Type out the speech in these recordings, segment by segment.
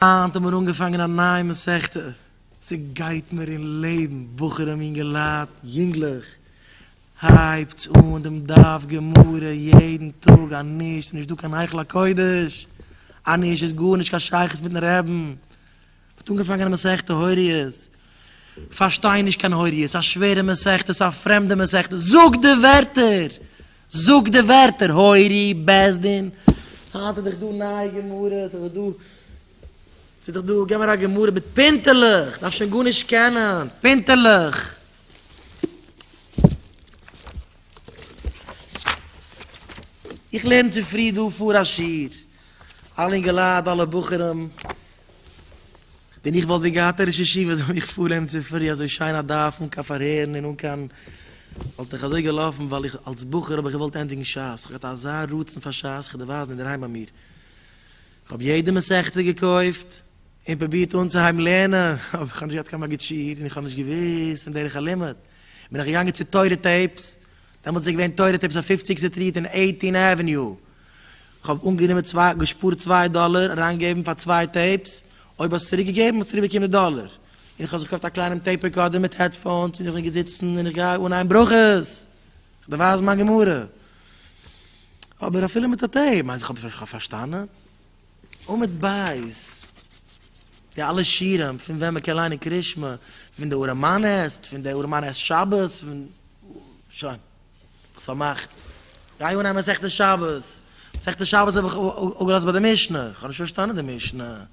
היינט האבן מיר אנגעפאנגען א נייע מסכתא, ס'גייט מיר אין לעבן, בחורים אינגעלייט, יונגלעך, הייבטס אן דעם דף גמרא יעדן טאג, אנישט איז נישט דא קיין היכל הקודש, אנישט איז גארנישט קיין שייכות מיטן רעבן, מ'האט אנגעפאנגען א מסכתא הוריות, פארשטיי נישט קיין הוריות, א שווערע מסכתא, א פרעמדע מסכתא, זאג די ווערטער! זאג די ווערטער הורי בית דין. היינט איז דאך דא נייע גמרות, ס'איז דאך דא, ס'איז דאך דא, גיב מיר א גמרא מיט פינטעלעך, כ'דארף שוין גארנישט קענען, פינטעלעך. איך לערן צופרי דא פאר א שיעור. אלע אינגעלייט אלע בחורים, ווען איך וואלט ווען געהאט א ראש ישיבה זאל מיך פארנעמען צופרי אזוי שיין א דף אן קיין פארהערן און אן קיין וואלט איך אזוי געלאפן ווייל איך אלס בחור האב איך געוואלט ענדיגן שס איך האב געהאט אזא רצון פאר שס איך האב דערווייזן אינדערהיים ביי מיר איך האב יעדע מסכתא געקויפט און פרובירט אנצוהייבן לערנען אבער איך האב נישט געהאט קיין מגיד שיעור און איך האב נישט געוואוסט פון דרך הלימוד בין איך געגאנגען צו תורה טעיפס. דעמאלטס איז געווען תורה טעיפס אויף פופציג סטריט און עיטין עוועניו, כ'האב אנגענומען צוויי, געשפארט צוויי דאלער אריינגעבן פאר צוויי טעיפס, אויב האסט צוריק געגעבן האסט צוריק באקומען די דאלער, און כ'האב זיך געקויפט א קליינעם טעיפ רעקארדער מיט העדפאונס און איך בין געזיצן און איך גיי אנהייבן ברכות, כ'דערווייז מיין גמרא, אבער אפילו מיט א טעיפ, מיינסט איך האב פארשטאנען? און מיט בית, די אלע שירים פון ווען מען קען ליינען קריאת שמע, פון די ארעמאנעסט, פון די ארעמאנעסט שבת, שוין, האסט פארמאכט, גיי אנהייבן מסכת שבת, מסכת שבת האב איך אפגעלאזט ביי די משנה, איך האב נישט פארשטאנען די משנה,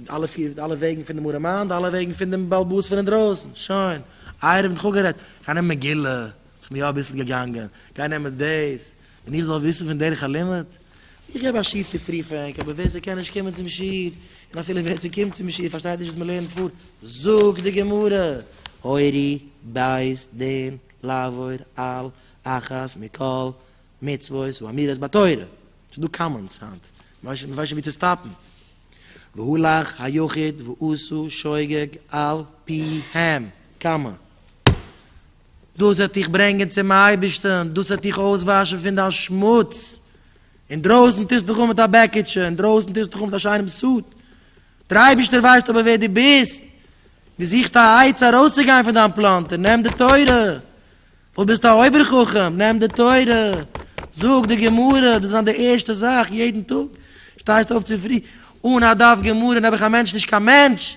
די אלע פיר, די אלע וועגן פון דעם ארעמאן, די אלע וועגן פון דעם בעל באס פון אינדרויסן, שוין, עירוב נאכאפגערעדט, גיי נעם מגילה, ס'מיר יא אביסל געגאנגען, גיי נעם דאס. און איך זאל וויסן פון דרך הלימוד? איך געב א שיעור צו פרי פרענק, אבער ווער ס'קען נישט קומען צום שיעור, און אפילו ווער ס'קומט צום שיעור פארשטייט נישט וואס מ'לערנט פאר, זאגט די גמרא, הורי בית דין לעבור על אחת מכל מצוות ואמירות בתורה, ס'איז דא קאמאנדס היינט, מ'ווייסט שוין ווי צו סטאפן, והלך היחיד ועשו שוגג על פיהם, קאמע. דאס וועט דיך ברענגען צום אייבערשטן, דאס וועט דיך אויסוואשן פון דיין שמוץ, אינדרויסן טוסטו דיך אן מיט א בעקיטשע, אינדרויסן טוסטו דיך אן מיט א שיינעם סוט, דער אייבערשטער ווייסט אבער ווער דו ביסט, דו זוכסט א עצה ארויסצוגיין פון דיין פלאנטער, נעם די תורה, וואס ביסטו א אויבער חכם, נעם די תורה, זאג די גמרא, דאס איז זיין די ערשטע זאך יעדן טאג, שטייסט אויף צופרי, אן א דף גמרא נעבעך א מענטש נישט קיין מענטש.